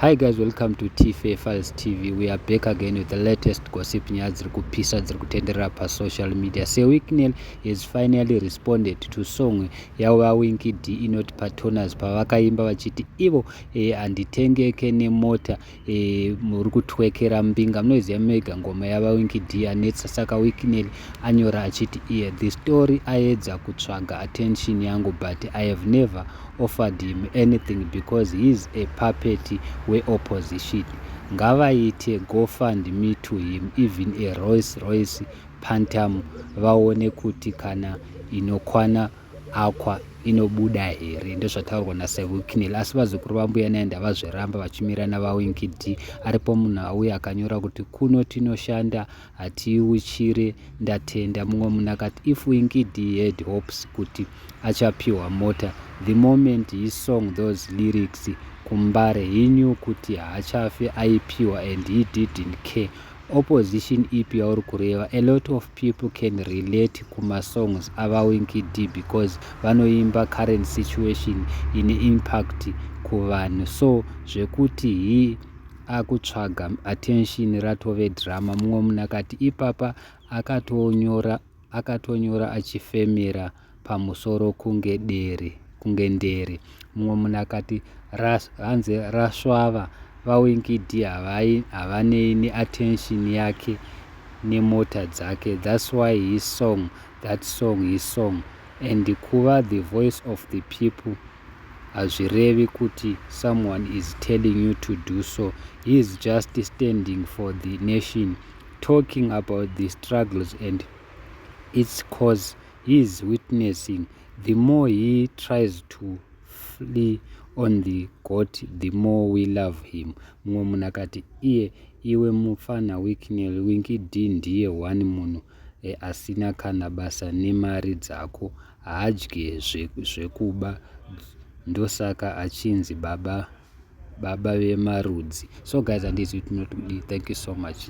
Hi guys, welcome to TFA Files TV. We are back again with the latest gossip nyaya dziri kupisa dziri kutenderera pasocial media. Sir Wicknell has finally responded to song yaVaWinky D inoti Patoners pavakaimba vachiti ivo eh, handitengeke eh, nemota eh, muri kutwekera mbinga. Munoiziva mega ngoma yaVaWinky D anetsa saka Wicknell anyora achiti iye the story aedza kutsvaga attention yangu but I have never offered him anything because he is a puppet we opposition ngavaite go fund me to him even a royce royce pantam vaone kuti kana inokwana akwa inobuda here ndozvataurwa nasevuknel asi vazukuru vambuya naye ndavazviramba vachimirana vawinki d aripo munhu auya akanyora kuti kuno tinoshanda Hatiuchire ndatenda mumwe munhu akati if Winkidi had hopes kuti achapiwa mota the moment he song those lyrics kumbare he knew kuti haachafe aipiwa and he didn't care opposition ipi yauri kureva a lot of people can relate kumasongs avawinkidi because vanoimba current situation ine impact kuvanhu so zvekuti he akutsvaga attention ratove drama mumwe munhu akati ipapa akatonyora akatonyora achifemera pamusoro kunge dere kunge ndere mumwe munhu akati ras, hanzi rasvava vawinkidi havanei neattention yake nemota dzake thats why his song that song his song and kuva the voice of the people hazvirevi kuti someone is telling you to do so, he is just standing for the nation talking about the struggles and its cause he is witnessing. The more he tries to flee on the goat the more we love him. Mumwe munhu akati iye iwe mufana Wicknell Winky D ndiye one munhu eh, asina kana basa nemari dzako haadye zvekuba ndosaka achinzi baba baba vemarudzi so guys handizvi tinotudi thank you so much